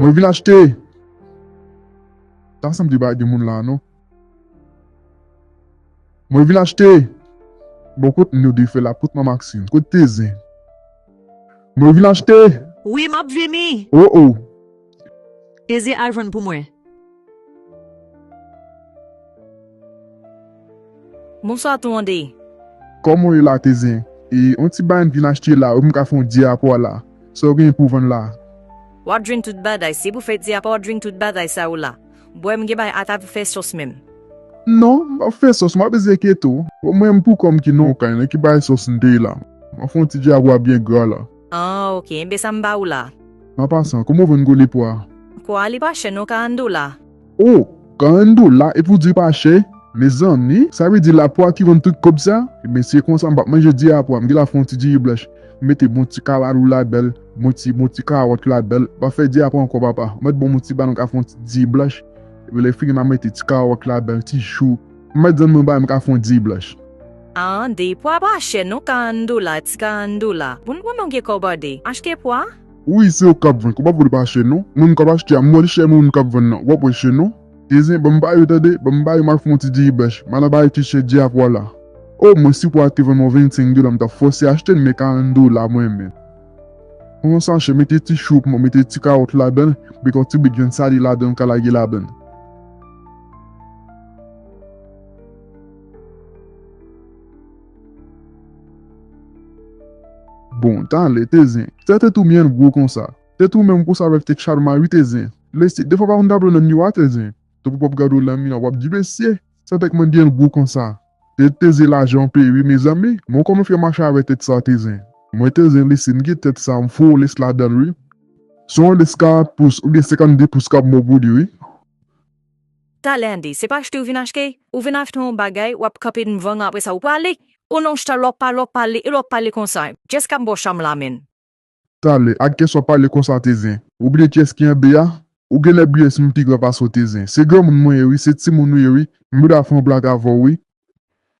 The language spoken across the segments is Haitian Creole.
Mwen vin achte. Ta sanm di ba gen moun la non. Mwen vin achte. Bon kot nou di fe la kot ma Maxine. Kot te zen. Mwen vin achte. Wi map vini. Oh oh. Eze al jwenn pou mwen. Bonswa tou an de. Koman w ye la teze. E yon ti bagay m vin achte la wi m ka fè yon diapwa la sa w genyen pou w vann la. Wap jwenn tout bagay si pou fè diapwa wap jwenn tout bagay sa ou la bwè m gen bagay ata pou fè sòs menm. Non m pap fè sòs map eze keto. Mwen menm pou kòm ki non kay nan ki bagay sòs m te ye la map fè yon ti diapwa byen gra la. Ah ok, enben sa m ba ou la. An pasan, kouman w vann gwo le pwa a? Pwa a li pa chè non, 40 dola. Oh! 40 dola epi w di pa chè? Mezanmi, sa vle di la pwa ki vann tout kob sa? Enben si e konsa m pap manje di a pwa, m genlè ap fè yon ti diri blanch. M mete bon ti kalalou ladanl, bon ti bon ti kawòt ladanl. M pap fè di a pwa ankò papa. M mèt banm yon ti balong ak yon ti diri blanch. Epi lè fini m a mete ti kawòt ladanl, ti chou. Met zen mwen bay m ka fon diy blanch. Aan diy pwa pa chè non 40 dola ti 40 dola pou n konnen w gen kòb ade achte pwa. Wi se ou kap vann kòb ap vole pa chè non mwen m kap achte a m wè l chè men ou menm kap vann nan wap wè l chè non. E zen banm ba yo tande banm ba yo mal fon ti diy blanch mal aba yo ti chè diy a pwa la oh mwen si pwa a te vann mwen 25 dola m tap fòse achte l men 40 dola mwen men pran yon sachè mete ti chou pou mwen mete ti kawòt ladanl mete yon ti bit vyann sale ladanl ou ka lage ladanl. Bon tale te zen. Sè tèt ou byen gwo konsa. Tèt ou menm konsa avèk tèt Sharma wi te zen. Lesy defwa pa konn tablo nan miwa te zen. Tankou w pap gade w nan miwa wap di mesye. Sè tèt mwen byen gwo konsa. Tèt te zen laje anpe wi mezanmi. Mwen kòman fè mache avè tèt sa te zen. Mwen te zen lesy m gen tèt sa m fè w les ladanl wi. Son les 40 pous oubyen 52 pous kap bon pou li wi. Ta Landy, se pa achte ou vin achte? Ou vin achte yon bagay, wap kanpe dnvan l apresa ou pale! O non Chta lè w pale w pale e lè w pale konsa, Jess ka m ba w cham la menn. Talè, ak kès wap pale konsa te zen? Ou bliye kiyès ki anbe a? Ou genlè bliye si m pi gran pase w te zen. Se granmoun mwen ye wi, se timoun ou ye wi, m bda fè yon blak avè w wi.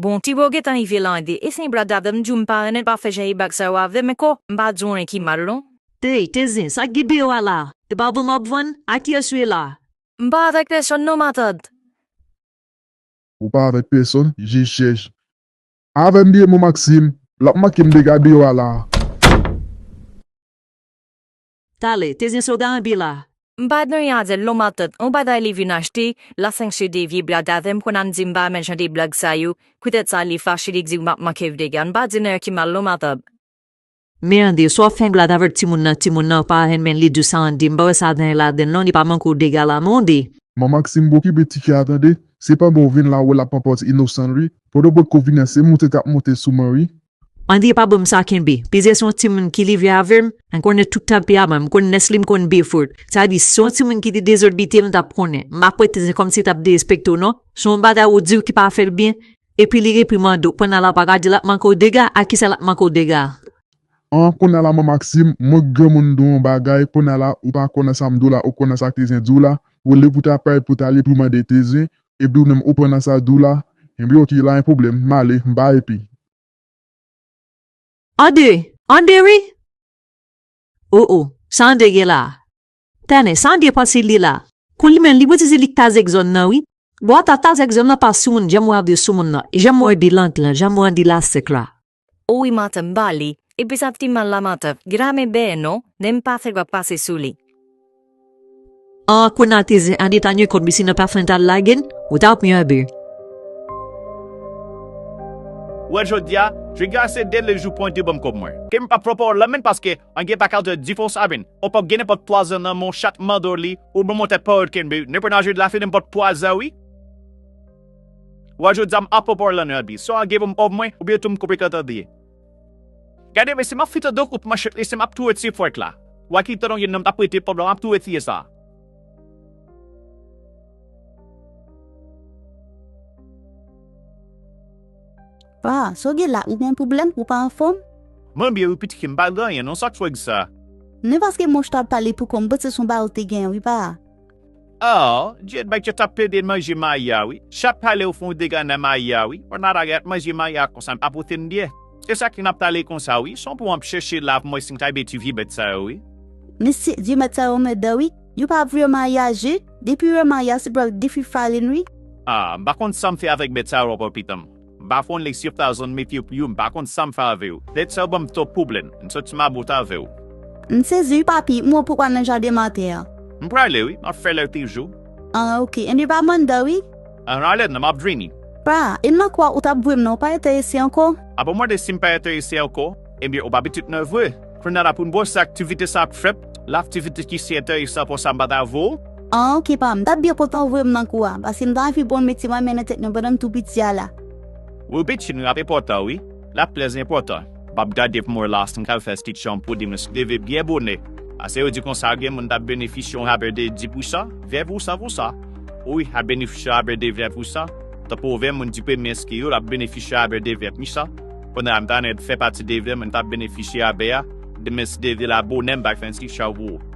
Bon tibo gentan ive lan ede e se blag avèm m diw m pa renmenl pa fè jan e bag sa yo avèm e ko m pa diw anyen ki mal non. Hey te zen sak gen deyò a la e pa vann wap vann a kiyès ou ye la. M pa avèk pèsòn non matant. Ou pa avèk pèsòn je chèch. Avèm byen mon Maxime lap mankem dega deyò a la. Tale, te zin soda an bi la. M pa dwe a di l non matant on bagay li vin achte la san ksye de vye blag avè m konn a m di m pa renmen jan de blag sa yo poutèt sa li fache li di ou m ap manke w dega n pa di nèg ki mal non matant. Merde, sa w fenk la davèk timoun nan timoun nan pa renmen li di sa an di m pa wè sa gen ladan l non li pa manke w dega la monde. Man Maxime bon kibe ti kè a tande se pandan w vin la wè l ap panpòt inosan l wi pandan w potko vini an se moute k ap moute sou man wi Andie pa banm sa kenbe. Peze son timoun ki live avem m konnen tout tanperaman m konn nesly m konn bfout sa di si son timoun ki te dezodbite m tap konnen m ap wè teze komsi tap derespekte w non son bagay ou diw ki pa fèl byen epi li reprimande w pandan la paka di lap manke w dega a kisa lap manke w dega. An konnya la man Maxime mwen k granmoun diw yon bagay konnya la ou pa konnen sam diw la ou konnen sa k tezen diw la ou lib ou ta pray pou tale primande teze Epi ou menm ou pran nan sa di w la? Enben ok la en pwoblèm, m ale, m pa epi. Ande! Ande wi! O o, sa Ande gen la a? Tènè, sa Ande panse li la a? Kou li menm li bouti di li k ta zèk zòn nan wi. Bon ata ta zèk zòn nan pa soumoun janm wè Ande soumoun nan, janm wè Bilang lan, janm wè Ande Lasèk la. O wi Marthe m ba li Epi sa t fi mal la Marthe Get a me bèè non Nen m pa fè wap pase sou li. Ahh kounal te zen Annie ta nye kòd li sinon pafè n ta al lage n Ou ta pran yon bèè. Ou wè jodia Jwe gè a se de le jou pran de banm kob mwen. Ke m pa pran pa w lanmen paske an gen pa kaltè difons avin ou pap gen nenpòt pwazon nan men w chat mandor li ou banm yon tèt pa w kenbe nenpwen nan je dlafen nenpòt pwazon wi. Wa jwe dam a pò parlan nan bi sa gen pou m òv mwen oubyen tou m koupe kanta de Gade mesye map fite do kout manchet mesye map touye ti fwèk la Wa ki te longue nan m tap prete pòm la map touye tiye sa a. Wa, sa w gen la ou gen pwoblèm ou pa anfòm? Mwen byen wi pitike m pa gen anyen non sak fwèk sa. Men paske monche tap pale pou kò m panse son bagay ou te gen wi pa. Aww djed bay chat ap plede manje maya wi chat palew fon dega nan maya wi pwat natalie ap manje maya konsa m pa pote n byè sesa ki nap tale konsa wi son pou anp chèche la pou mwen sim ka ede ti vye bèt sa yo wi. Mesye vye mèt sa yo anmèdan wi yo pa vre maya je depi yo wè maya se pou yo al defi farin wi. Ah m pa konn sam fè avèk bèt sa yo ankò pitanm. Bafon li siw ta zon mefyew pou yo m pa konn sam fè avew det sa ou banm twop pwoblem m sot sou ma bout avew. M sezi wi papi, m wè w poko al nan jaden matè an. M prale wi, map fè lè toujou. Ahh ok, anyn pa bann dan wi. Ahh ale nan map vini. Pra, e m nan kwè w ou tap voye m nan ou pa enterese anko? Ap ou mande sim pa enterese anko? Ebyen ou pa pitit mwen vre. Kounya la poun bwose aktivite sa ap fèt la aktivite ki si enteresan konsa m pa ta vo ou. An ok pa m tap byen kontan ou voye m nan kou a paske m ta anvi pran metye mwen nan tèt mwen pandan m tou piti a la. Wi piti nou ap enpòtan wi lap trè enpòtan. Map gade pou m wè la si m ka fè ti chanm pou li mwen si leve byen bonè pase yo di konsa gen moun tap benefisye yon rabè de 10 pou san 20 pou san pou sa wi ap benefisye rabè de 20 pou san tankou 20 moun di premye enskri yo lap benefisye rabè de 20 pou sa. Kounye a m ta renmen fè pati de vil mwen tap benefisye rabè a, demen si de vil a bonè m bay fè enskipsyon an pou ou.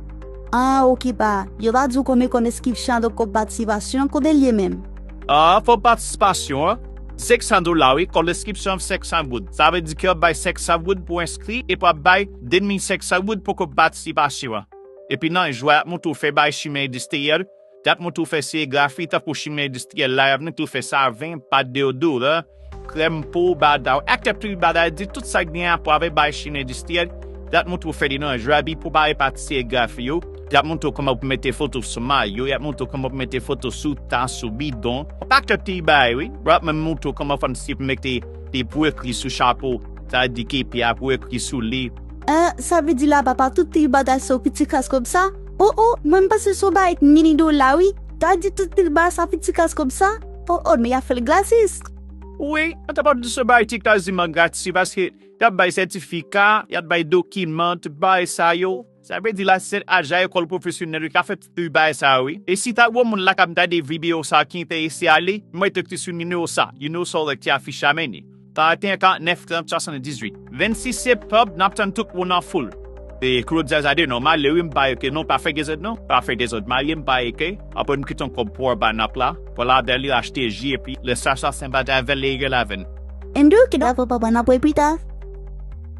Aah ok pa yo pa diw konbyen kòb enskipsyon an donk kòb patisipasyon an konbyen li ye menm? Aah kòb patisipasyon an se 500 dola wi kòb enskipsyon an se 500 goud sa vle di ke wap bay 500 goud pou enskri epi wap bay 2500 goud pou kòb patisipasyon an epi nan jou a yap montre w fè bay chimen endistriyèl Dat mwen tou fè serigrafi tankou chimen endistriyèl la yap vin tou fè saven, pat deodora, krèm po, badaw ak kèk lwil bagay di tout sak gen rapò avèk bagay chimen endistriyèl, dat mwen tou fè li nan jwabi pou bare pati serigrafi yo, yap montre w kòman pou mete foto sou mayo, yap montre w kòman pou mete foto sou tas, sou bidon, yon pakèt ti bagay wi, yap menm montre w kòman fònn si pou mete li pou ekri sou chapo, sa di kepi a pou ekri sou li. Ahh sa vle di laba pa tout ti bagay se yon pitikras kòmsa? Oh oh mwen m panse son bagay k mini dola wi ta di tout pil ba sa pou ti kas kob sa oh oh nou ya fel gratis. Wi yo ta pap di se bay ti kas diman gratis wi paske yap bay sètifika yap bay dokiman tout bagay sa yo sa vle di la sèt ajan ekol profesyonèl yo ka fè tout ti bagay sa yo wi e si ta gon moun la kap gade video sa ki entèrese ale mete ti sou nimewo sa you know solèk ti afich la meni. 41 49 30 78 26 septanb nap tann tout moun an foul. E Claude Zazade non male wi m pa eke non pa fè dezòd non pa fè dezòd male m pa eke aprè m kiton kòb pou anba nap la pral avè li achte ji epi lè sa sa sen bagay avè li egèl avè n. Endou ok dako papa nap wè pita.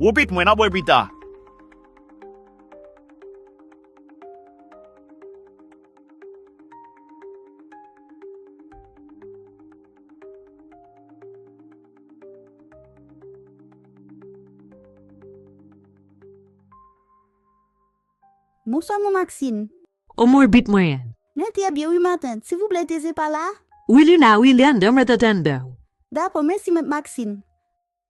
Wi pit mwen nap wè pita. Bonswa mwen Maxine. O mwen bit mwen an. Mwen trè byen wi matant. Sivouplè Thésée pa la? Wi li la wi li andan mwen t atann dan ou. Dakò mèsi mèt Maxine.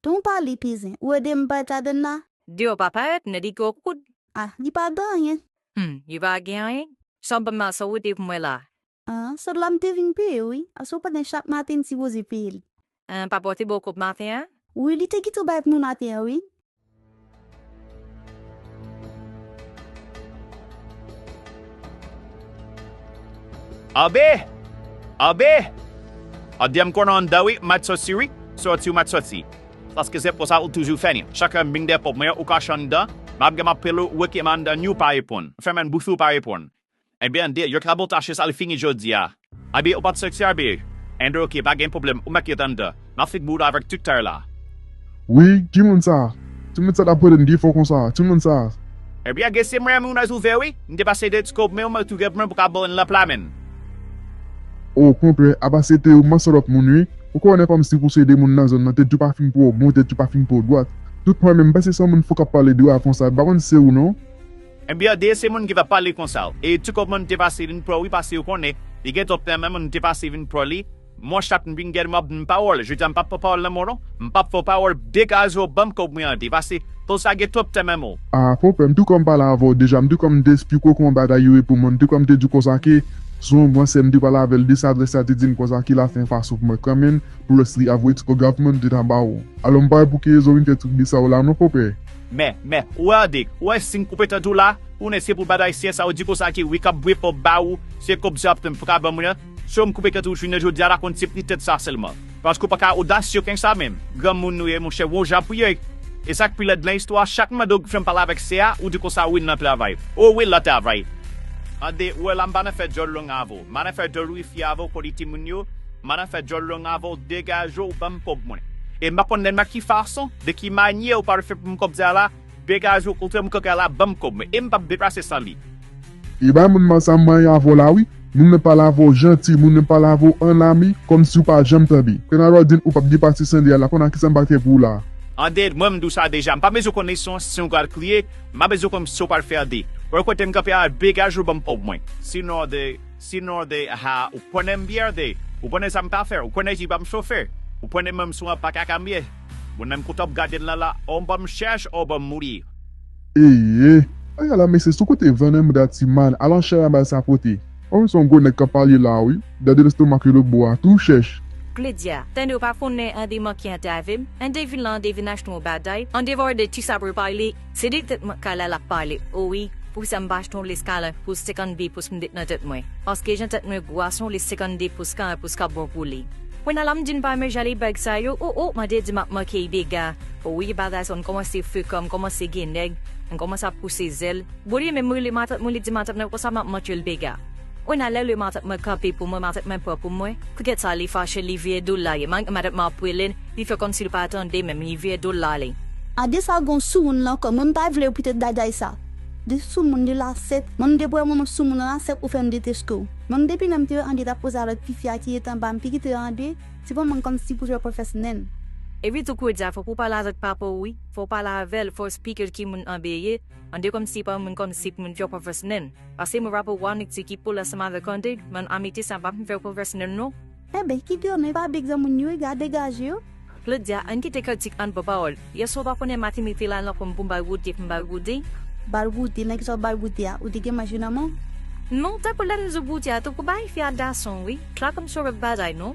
Ton pa li pi zen. Ou edem bay kadenn la. Diw pa parèt ne li gwo kout. Ah li pa gen anyen. Humm li pa gen anyen. San banm la san ou te pou mwen la. Ah sot la mte vin peye wi. Ase ou pa gen chak maten ti voze peyel. Ahh pa pote boko maten an. Wi li te gentan bay pou mwen maten an wi. Abe! Abe! Abde m konnen anndan wi, mèt soti wi, soti ou mèt soti. Paske se konsa ou toujou fè ni. Chak lè m vin depo mwen ou kache anndan, m ap gen m ap pale w, ou rete m anndan ni w pa reponn. Fèmen bouch ou, ou pa reponn. Enben Ande yo trabou tache sa li fini jodia. Aby ou pat sèkse aby. Ande ok pa gen pwoblèm ou met li Ande map fek bouda avek tut tèr la. Wi ki moun sa? Ti moun sa tap rele m pi fò konsa a? Ki moun sa a? Aby a gen se mwen menw nèz ouvè wi m te pase de ti kob menw mwen tou gen pou mwen pou kabann lan pla menn. O kontrè aba se te ou man salòp moun wi ou konnen kòm si pou se de moun nan zòn nan tèt yo pa fin pou ou bon tèt yo pa fin pou ou dwat tout pwen menm m panse son moun fou kap pale de ou a konsa m pa konn si se ou non. MBRD se moun ki tap pale konsa w e tu kòb mwen te pase vin pran w wi pase yo konnen li gen tòp nan men mwen te pase vin pran li mwen chak m vin gade map dn pawòl jodi a m pap fè pawòl nan mwen non m pap fè w pawòl degaje w banm kòb mwen an te pase fo sa gen tòp nan men mwen. Ah fo pè m tu kòm m pale avè w deja m tu kòm m te esplike w kòman bagay yo ye pou mwen m tu kòm m te di w konsa ke sou yon bwans sèm te pale avè l de sa vre sa te di m konsa ki la fè pa sou pou mwen kanmenn pou lòs li avwe tu kò graf mwen m te ta ba w alò m pa wè pou ki rezon w vin fè trip de sa w la non fo pè. Meh meh ou wè andik ou wè sim koupe tande w la tounen se pou bad ayisyen sa ou di konsa ki wi kap bwe pòp ba ou se kòb sa wap tann pou ka ban mwen an so m koupe tande w jounen jodi a la konn se pri tèt sa sèlman paske ou paka odasye knsa menm granmoun nou ye monchè won jan pou ye e sak pi lèd lan istwa chak m mande w fèm pale avèk sè a ou di konsa wi nan travay o wi lan travay tande ou wè la m pa nan fè djòl long avè w m pa nan fè djòl wifi avè w kòli timoun yo m pa nan fè djòl long avè w degaje w banm kòb mwen e m pa konn nan ki fason. De ki manye ou pral fè pou m kòb sa la? Degage w kontre m kòk a la banm kòb mwen e m pap deplase san li. E bay moun mal sa manyen avè w la wi. Moun nan pale avè w janti, moun nan pale avè w an ami, kòmsi ou pa janm tande. Kanaval ou di m ou pap depase san li a la kounye a kisa m pral fè pou ou la a? Ande, mwen m di w sa deja, m pa bezwen konn nesans si ou pral kriye, m pa bezwen konn si ou pral fè ande. Wè kote m kanpe a la, degage w banm kòb mwen. Sinon ande, sinon ande, aha, ou konnen m byen ande, ou konnen sa m pa fè, ou konnen j pa m chofe, ou konnen menm sou an pa ka kanbye. Mwen menm kote wap gadel la la ou banm chèch ou banm mouri. Eyy aya la mesye sou kote vene mouda ti mal al anchè a bal sa pote. Ou menm se yon gwo nèg kap pale la wi, gade lestomak li lotbo a tou chèch. Klodya, tande ou pa konnen an demanke an te avem, an devin lan an devin achte yon bagay, an devan ou de ti sabre pale, Se de tèt mwen kala lap pale o wi poukisa m pa achte yon les kala pou 52 pous m met nan tèt mwen paske jan tèt mwen gwa son les 52 pous kala pous kap bon pou li. Kounya la m di n pa renmen jan li bag sa yo oh oh mande di map manke y dega o wi bagay sa yo n kòmanse frekan m kòmanse gen nèg m kòmanse ap pouse zèl boo li menm m rele matant mwen li di matant mwen konsa map manke l dega. Mwen ale lè matant mwen kanpe pou mwen matant mwen pran pou mwen kouket sa li fache li vire dol la ye man matant map rele l li fè komsi l pa tande menm li vire dol la ale. A de sa gon soumoun lan kò mwen m pa vlew pite djadjay sa de soumoun li la sèt mwen m depwe mwen soumoun la sèt ou fèm deteskew mwen m depi lèm te wè André tap koze avèk ti fi a ki ret anba m pi kite André se pou mwen kòmsi pou jwè pwefès nen. Epi tou koudya fok ou pale avèk papaw wi fok ou pale avèl fos pikel ki moun Anbe ye Ande kòm si pa moun kòm si moun fè professional. Pase mwen rapè wa nèg ti ki poul ansanm avèk ande, man amite sa pa fè professional non. Enben kite yo men pa bgy nan moun yo e ga degaje yo. Claudia ann kite kritik ann pran pawòl. Yèswa ou pa konnen Matine te la nan kòm pou m bay Roody pou m bay Roody. Bal Roody men kisa w bal Roody a ou te gen manje nan men w. Non tankou lèm di Roody a tankou bay fi a dason wi. Claude m sou rèv bagay non.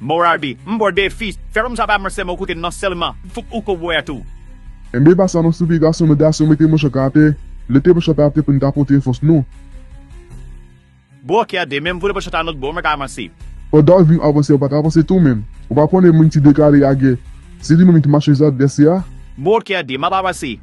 Morardi, m bo defi, fè rom sa pa m sèlman ou koute nan sèlman, fouk ou ko bwè a tou. Enben epa sa nou soupe gason nou gason mete manch ank atè, lete manch la atè pou n ka pote fòs nou. Bro kè de menm voule manch la not bro mwen ka avanse. Pandan wap vin avanse ou pa ka avanse tou menm, ou pa konnen moun ki deklare a gè se li menm ki machanj advèsè a. Bro kè de map avanse.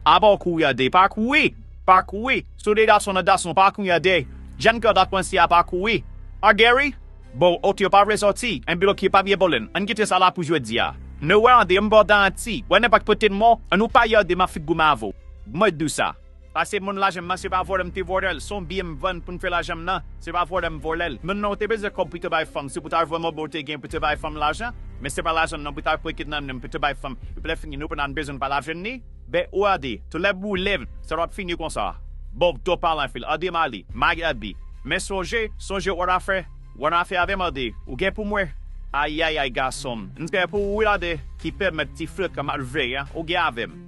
Apa w kouri a de pa kouri, pa kouri. Sou de gason nan gason pa kounye a de Jen kè dak pranse a pa kouri a Geri Bon ok yo pa vle sòti enpi ok yo pa vye bolen Ann kite sa la pou jodi a Nou wè an de m bò danti wè nan pat pote n mò an nou pa yè de ma figou m avou Mwen dou sa pase moun lajan m nan se pa vòlè m te vòlè l son byen m vann pou m fè lajan m nan se pa vòlè m vòlè l Moun nan ou te bezwen kòb pou te bay fanm se pou ta jwenn mòbè ou te gen pou te bay fanm lajan men se pa lajan m nan pou ta fouye kidnane m pou te bay fanm epi lè fini nou pa nan bezwen n pa lajan n ni BORD, Tout lè boulem, sa pap fini konsa. Bob, Twòp pale anfil, RD Mali, Mag RD, Men sonje, sonje w'an afè, w'an afè avèm RD, ou gen pou mwen. Ayayay gasonm, m kè pou ou wi RD, ki pèmèt ti flèt la m'ap veye an, ou gen avèm.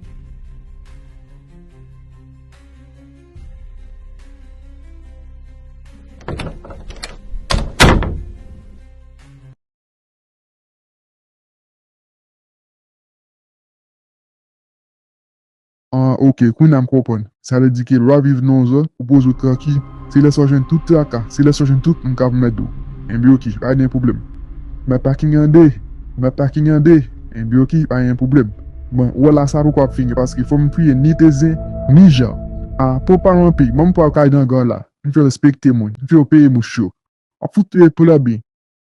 Ah ok kounya m konprann. Sa vle di ke lwa viv non zo ou poze w tranki se lè sa w jwenn tout traka se lè sa w jwenn tout moun kap mèd ou enben ok pa gen pwoblèm map paking ande map paking ande enben ok pa gen pwoblèm bon wè la sa poko ap fini paske fò m fouye ni te zen ni jan ah pran pa m anpil man m pral kay gangan la m fè respekte moun m fè yo peye mouche yo wap fout peye pou lè byen